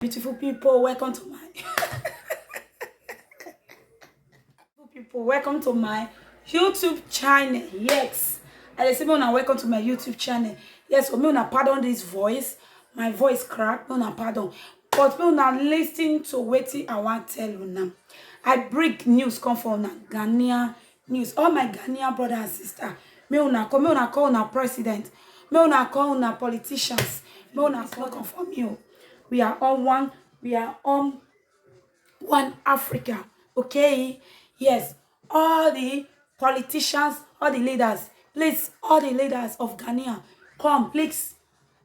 beautiful people welcome to my people welcome to my youtube channel yes i dey say make una welcome to my youtube channel yes so make una pardon this voice my voice crack make una pardon but make una lis ten to wetin i wan tell una i bring news come for una ghanaian news all my ghanaian brother and sister make una come make una call una president make una call una politicians make una call come for me o we are all one we are all one africa okay yes all the politicians all the leaders please all the leaders of ghanaian come please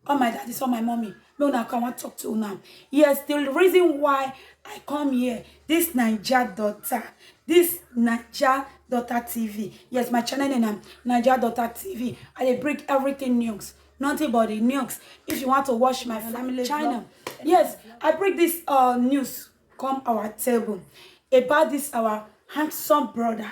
all my daddies, all my mommy, no una come, I want to talk to una. Yes, the reason why I come here, this Naija daughter, this Naija daughter TV. Yes, my channel name na Naija daughter TV. I dey bring everything news, nothing but the news. If you want to watch my family channel, yes, I bring this uh, news come our table about this our handsome brother.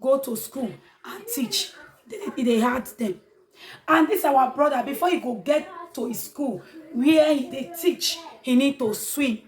go to school and teach e dey hard them. and this our brother before he go get to his school where he dey teach he need to swim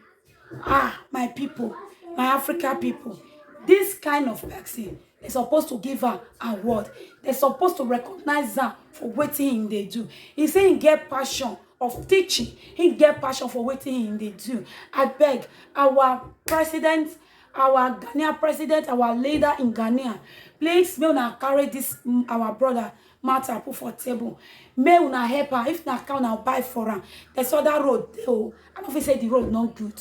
ah my people my africa people this kind of person they supposed to give her award they supposed to recognize her for what he they do he say he get passion of teaching he get passion for what he they do i beg our president our Ghanaian president, our leader in Ghana, please may una carry this mm, our brother matter put for table. May una help her. If na car una buy for am, there's other road dey o. I no fit say the road no good.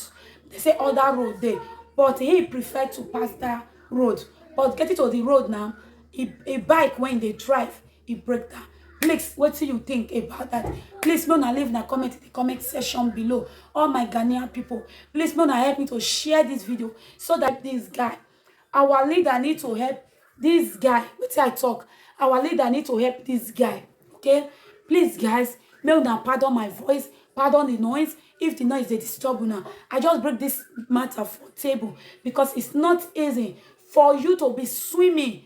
They say other road dey, but he prefer to pass that road. But getting to the road now, he, he bike when they drive, e break down please wetin you think about that please make una leave na comment in the comment section below all my ghanaian people please make una help me to share this video so that this guy our leader need to help this guy wetin i talk our leader need to help this guy okay please guys make una pardon my voice pardon the noise if the noise dey disturb una i just break this matter for table because it's not easy for you to be swimming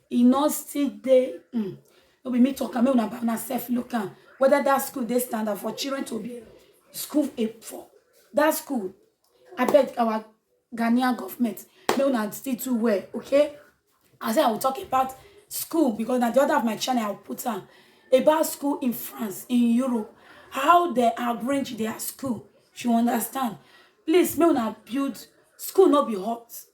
e no still dey um, no be me talk am make una una self look am whether that school dey standard for children to be school a for that school abeg our ghanaian government make una still do well okay i say i will talk about school because na the other of my channel i will put am about school in france in europe how they arrange their school you understand please make una build school no be hot